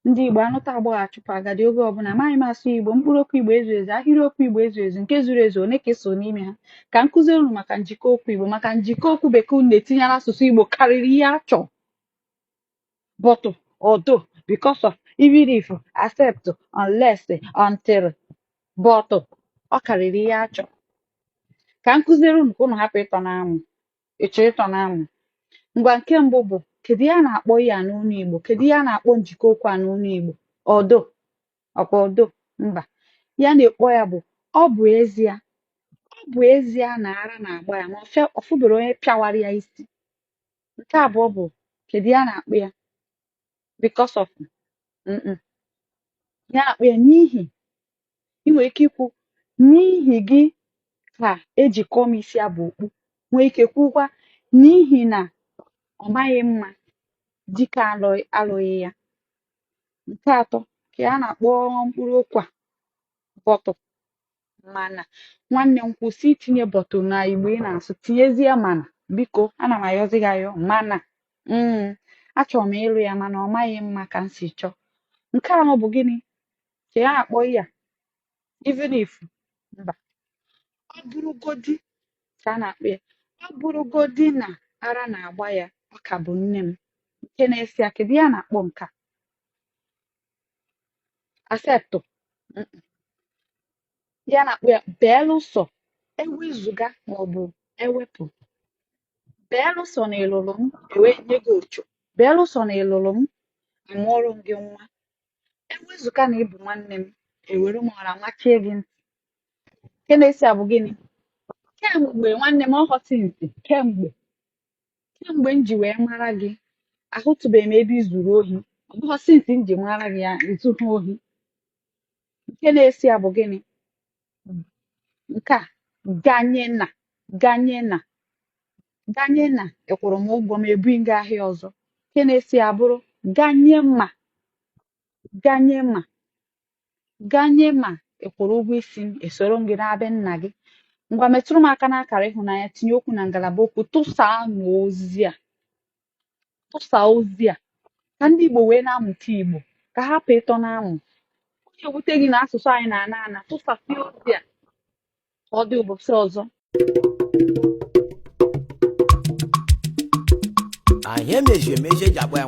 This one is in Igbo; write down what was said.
ndị Igbo anụta agbọghọ achụpụ agadi oge ọbụla amaghị m asụ Igbo mkpụrụ okwu Igbo ezu ezu ahịrịokwu Igbo ezu ezu nke zuru ezu one ka i so n'ime ha ka m kụziere unu maka njikọ okwu Igbo maka njikọ okwu bekee unu na-etinye n'asụsụ Igbo karịrị ihe a chọrọ but although because of even if except unless until but ọ karịrị ihe a chọrọ ka m kụziere unu ka unu hapụ ịtọ n'amụ Ị chọrọ ịtọ n'amụ? Ngwa nke mbụ bụ kedu ihe a na-akpọ ihe a n'ọnụ Igbo? Kedu ihe a na-akpọ njikọ okwu a n'ọnụ Igbo? Although. Ọkwa although? Mba. Ihe a na-akpọ ya bụ ọ bụ ezie. Ọ bụ ezie na ara na-agba ya ma ọ fụberọ onye pịawara ya isi. Nke abụọ bụ kedu ihe a na-akpọ ya? Because of. Mm-mm. Ihe a na-akpọ ya n'ihi ị nwere ike ikwu n'ihi gị ka eji kọọ m isi abụ okpu nwee ike kwukwa n'ihi na ọ maghị mma Dike alụghị ya nke atọ ka a na-akpọ mkpụrụ okwu a but mana nwanne m kwụsị itinye but na igbo ị na-asụ tinyezie mana biko ana m ayọzi gị ayọ mana mm, achọrọ m ịlụ ya mana ọ maghị mma ka m si chọọ nke anọ bụ gịnị ka a na-akpọ ya even if mba ọ bụrụgodi ka a na-akpọ ya ọ bụrụgodi na ara na-agba ya ọ ka bụ nne m nke na-esi ya kedu ihe a na-akpọ nke a except ihe a na-akpọ ya belụsọ ewezụga maọbụ ewepụ belụsọ na ị lụrụ m ewee nye gị ocho belụsọ na ị lụrụ m amụọrọ m gị nwa ewezụga na ị bụ nwanne m ewere m ọra machie gị ntị nke na-esi ya bụ gịnị kemgbe nwanne m ọ bụghị since kemgbe kemgbe m ji wee mara gị ahụtụbeghị m ebe i zuru ohi ọ bụghị since m ji mara gị ya izu ha ohi nke na-esi ya bụ gịnị nke a ganye na ganye na ganye na ị kwụrụ m ụgwọ m ebunye gị ahịa ọzọ nke na-esi ya bụrụ ganye ma ganye ma ganye ma ị kwụrụ ụgwọ isi m esoro m gị naa be nna gị ngwa metụrụ m aka n'akara ịhụnanya tinye okwu na ngalaba okwu tụsaa n'ozi a tụsa ozi a ka ndị Igbo wee na-amụta Igbo ka hapụ ịtọ n'amụ ọ na-ewute gị na asụsụ anyị na-ana ana tụsasị ozi a ka ọ dị ụbọchị ọzọ anyị emeji emeji eji agba ya